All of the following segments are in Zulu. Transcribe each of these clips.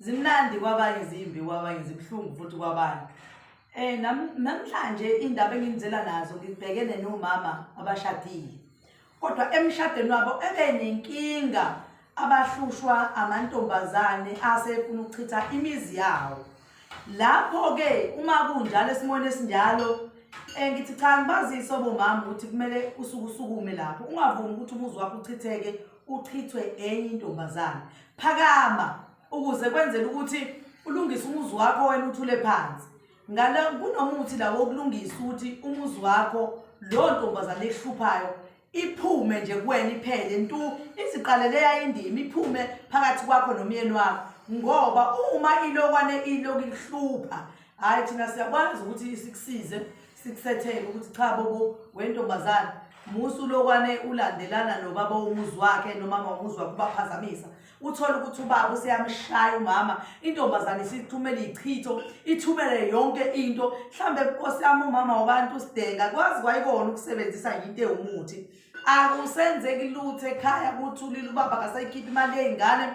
zimnandi kwabanye zimbi kwabanye zibuhlungu futhi kwabanye eh namhlanje indaba enginizela nazo ngibhekene nomama abashadile kodwa emshadweni wabo ebe nenkinga abahlushwa amantombazane asefuna ukuchitha imizi yawo lapho ke uma kunjalo esimweni esinjalo eh ngithi cha ngibazise obomama ukuthi kumele usuku usukume lapho ungavumi ukuthi umuzi wakho uchitheke uchithwe enye intombazane phakama ukuze kwenzele ukuthi ulungise umuzi wakho wena uthule phansi ngala kunomuthi la wokulungisa ukuthi umuzi wakho lo ntombazane ehluphayo iphume nje kuwena iphele ntu iziqalele yayindima iphume phakathi kwakho nomyeni wakho ngoba uma ilokwane iloku ihlupha hayi thina siyakwazi ukuthi sikusize sikusethele ukuthi cha bobo wentombazane musa ulokwane ulandelana nobaba womuzi wakhe nomama womuzi wakhe ubaphazamisa uthole ukuthi ubaba useyamshaya umama intombazane isithumele ichitho ithumele yonke into mhlambe inkosi yami umama wabantu usidenga kwazi kwayikona ukusebenzisa into ewumuthi akusenzeki lutho ekhaya kuthulile ubaba akasayikhiphi imali yey'ngane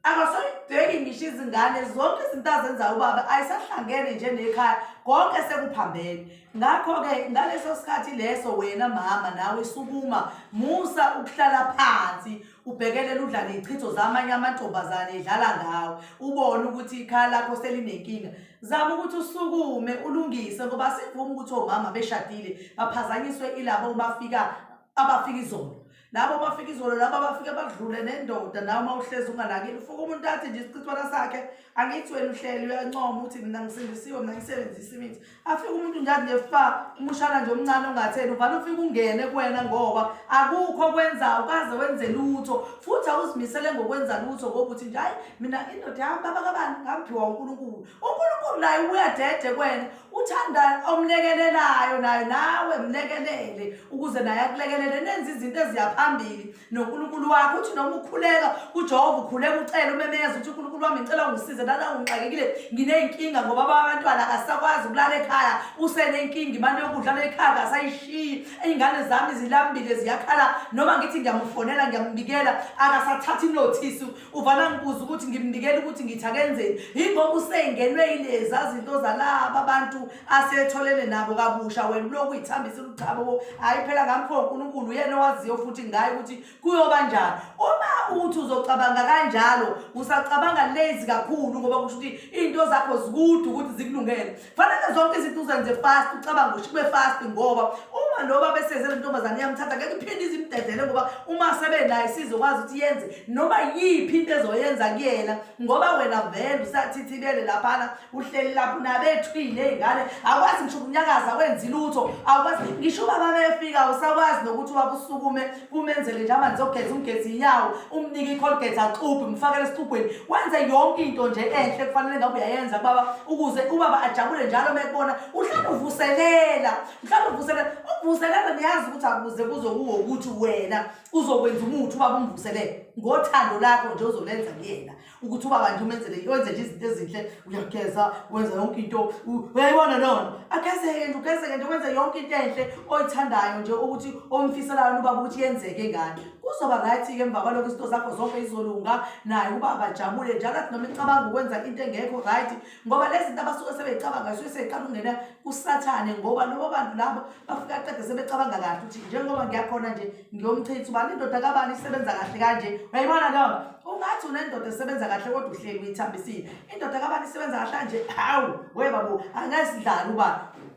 akasayibheki ngisho izingane zonke izinto azenza ubaba ayisahlangene nje nekhaya konke sekuphambene ngakho-ke ngaleso sikhathi leso wena mama nawe sukuma musa ukuhlala phansi ubhekelele udla ney'chitho zamanye amantombazane edlala ngawo ubone ukuthi ikhaya lakho selinenkinga zama ukuthi usukume ulungise ngoba sivuma ukuthi omama beshadile baphazanyiswe ilabo bafika abafika izolo labo bafika izolo labo abafike badlule nendoda nawe uma uhlezi unganakile ufuka umuntu athi nje isichithwana sakhe angithi wena uhleli uyancoma ukuthi mina ngisindisiwe mina ngisebenzisa imithi afike umuntu nje athi nje fa umushana nje omncane ongatheni uvale ufike ungene kuwena ngoba akukho kwenzayo ukaze wenze lutho futhi awuzimisele ngokwenza lutho ngoba uthi nje hayi mina indoda yami babakabani ngaphiwa unkulunkulu unkulunkulu naye ubuyadede kwena uthanda omlekelelayo nayo nawe mlekelele ukuze naye akulekelele nenze izinto eziyaphambili nonkulunkulu wakho uthi noma ukhuleka kujehova ukhuleka ucela umemeza ukuthi unkulunkulu wami ngicela ungisize nana ungixakekile nginey'nkinga ngoba abantwana akasakwazi ukulala ekhaya usenenkinga imali yokudla lekhaya akasayishiyi iy'ngane zami zilambile ziyakhala noma ngithi ngiyamufonela ngiyamubikela akasathathi inothisi uvana ngibuza ukuthi ngimnikela ukuthi ngithi akenzeni yingoba usengenwe yileza zinto zalaba abantu asetholene nabo kabusha wena uloku uyithambisa ulichabo bo hhayi phela ngamkho unkulunkulu uyena owaziyo futhi ngayo ukuthi kuyoba njani uma uthi uzocabanga kanjalo usacabanga lezi kakhulu ngoba kusho ukuthi iy'nto zakho zikude ukuthi zikulungele fanele zonke izinto uzenze fast ucabanga ukuthi kube fast ngoba uma loba besenze lentombazane iyamthatha ngeke iphinde izimdedele ngoba uma sebenayo sizokwazi ukuthi yenze noma yiphi into ezoyenza kuyena ngoba wena vele usathithibele laphana uhleli lapho nabethwile ey'ngane akwazi ngisho ukunyakaza wenzi lutho akwazi ngisho ubaba befika usakwazi nokuthi wabusukume kumenzele nje amanzi ogeza umgezi inyawo umnike icolgate axubhe mfakele esixubhweni wenze yonke into nje enhle kufanele ngabe uyayenza kubaba ukuze ubaba ajabule njalo uma ekubona uhlale uvuselela mhlawumbe uvuselela ukuvuselela niyazi ukuthi akuze kuzo kuwo ukuthi wena uzokwenza umuthi ubaba umvuselele ngothando lakho nje uzolenza kuyena ukuthi ubaba nje umenzele wenze nje izinto ezinhle uyageza wenza yonke into uyayibona lona agezeke nje ugezeke nje wenze yonke into enhle oyithandayo nje ukuthi omfiselayo ubaba ukuthi yenzeke ngani kuzoba right-ke emva kwalokho izinto zakho zonke izolunga naye ubaba ajabule njalo athi noma icabanga ukwenza into engekho right ngoba lezi zinto abasuke sebeyicabanga zisuke seyiqala ukungena kusathane ngoba lobo bantu labo bafike aqede sebecabanga kahle ukuthi njengoba ngiyakhona nje ngiyomchitha ubani indoda kabani isebenza kahle kanje uyayibona leyo ungathi unendoda esebenza kahle kodwa uhleli uyithambisile indoda kabani isebenza kahle kanje hawu we babo angesidlali uba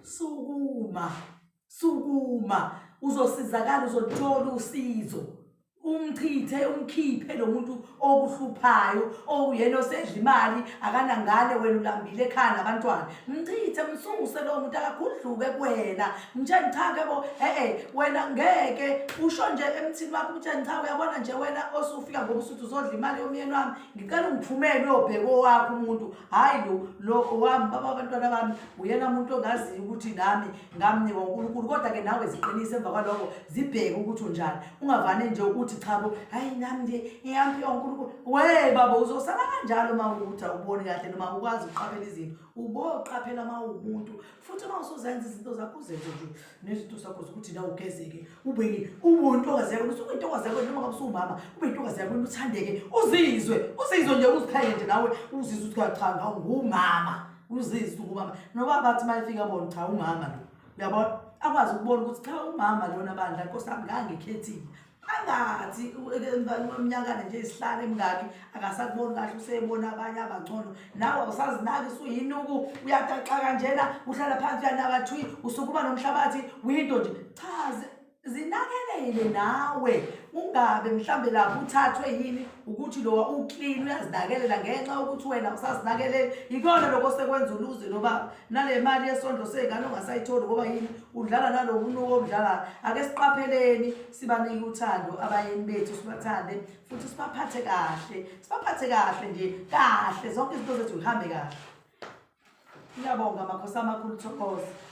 sukuma sukuma uzosizakala uzothola usizo umchithe umkhiphe lo muntu okuhluphayo okuyena osedla imali akanangane wena ulambile ekhaya nabantwana mchithe msuse lowo muntu akakhudluke kuwena mtsheni cha ke bo e-e wena ngeke usho nje emthini wakho umtsheni cha uyabona nje wena osufika ngoba usuthi uzodla imali yomyeni wami ngicela ungiphumele uyobheka owakho umuntu hhayi lo lo owami baba abantwana bami uyena muntu ongaziyo ukuthi nami ngamnikwa unkulunkulu kodwa-ke nawe ziqinise emva kwaloko zibheke ukuthi unjani ungavane nje ukuthi chabo hhayi nami nje ngiyampi onkulunkulu oh, we baba uzosala kanjalo uma ukuthi awuboni kahle noma ukwazi ukuqaphela izinto uboqaphela uma uwumuntu futhi uma usuzenza izinto zakho uzenze nje nezinto zakho zokuthi na ugezeke ube uwuntokwazeko ukuthi ubuyintokwazeko noma ngabe usuwumama ubuyintokwazeko wena uthandeke uzizwe uzizwe nje uziqhayende nawe uzizwe ukuthi cha ngawu ngumama uzizwe ukubamba noba bathi uma efika bona cha umama lo uyabona akwazi ukubona ukuthi cha umama lona bandla nkosi yami ngangikhethile angathi umnyakana nje isihlale emngaki akasakuboni kahle useyebona abanye abangcono nawe awusazinaki suyinuku uyataxa kanjena uhlala phansi uyanakathwi usukuba nomhlabathi winto nje chaze zinakelele nawe ungabe mhlambe lapho uthathwe yini ukuthi lowa uclean uyazinakelela ngenxa yokuthi wena usazinakelele ikona lokho sekwenza uluze nobaba nale mali yesondlo seyingane ongasayitholi ngoba yini udlala nalo munuko omdlala ake siqapheleni sibanike uthando abayeni bethu sibathande futhi sibaphathe kahle sibaphathe kahle nje kahle zonke izinto zethu zihambe kahle ngiyabonga makhosi amakhulu thokoza